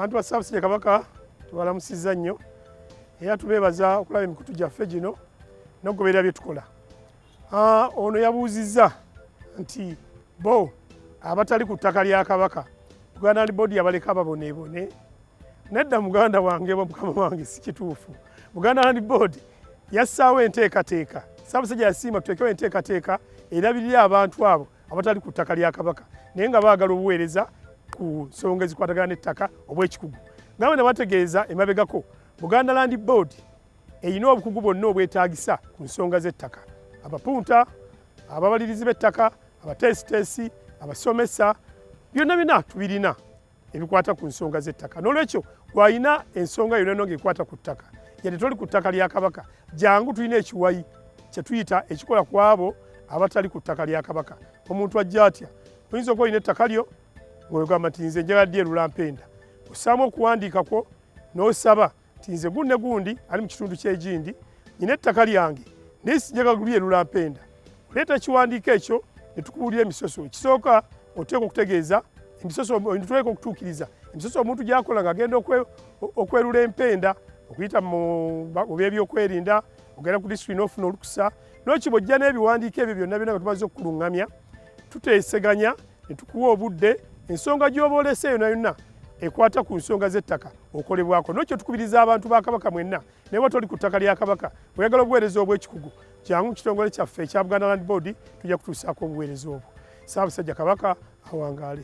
abantu ba South Kabaka tubalamusizza nnyo era tubeebaza okulaba emikutu gyaffe gino n'okugoberera bye tukola. Ah, ono yabuuzizza nti bo abatali ku ttaka lya kabaka buganda ndi bodi yabaleka baboneebone nedda muganda wange mukama wange si kituufu buganda land board yassaawo enteekateeka saabasajja yasiima tuteekewo enteekateeka erabirira abantu abo abatali ku ttaka lya kabaka naye nga baagala obuweereza ku nsonga ezikwatagana n'ettaka obw'ekikugu nabo ne bategeeza emabegako buganda land board erina obukugu bwonna obwetaagisa ku nsonga z'ettaka abapunta ababalirizi b'ettaka abateesiteesi abasomesa byonna byonna tubirina ebikwata ku nsonga z'ettaka n'olwekyo gwalina ensonga yonna no ngaekwata ku ttaka yadde toli ku ttaka lya kabaka jangu tulina ekiwayi kyetuyita ekikola ku abo abatali ku ttaka lya kabaka omuntu ajja atya oyinza okuba olina ettaka lyo ngaogamba nti nze njala ddi erulampenda osaamu okuwandiikakwo n'osaba nti nze gunne gundi ali mu kitundu ky'egindi nyina ettaka lyange naye sijaga lulye lulampenda oleeta ekiwandiiko ekyo ne tukubuulira emisoso ekisooka oteeka okutegeeza emisosotuleeka okutuukiriza emisoso omuntu gyakola ng'agenda okwerula empenda okuyita mu byebyokwerinda ogenda ku disituli n'ofuna olukusa n'okibojja n'ebiwandiiko ebyo byonna byonna nga tumaze okukuluŋŋamya tuteeseganya ne tukuwa obudde ensonga gy'oba olese yona yonna ekwata ku nsonga z'ettaka okolebwako nokyo tukubiriza abantu ba kabaka mwenna naye wata oli ku ttaka lya kabaka oyagala obuweereza obw'ekikugu kyangu mu kitongole kyaffe ekya buganda land board tujja kutuusaako obuweereza obwo saabasajja kabaka awangaale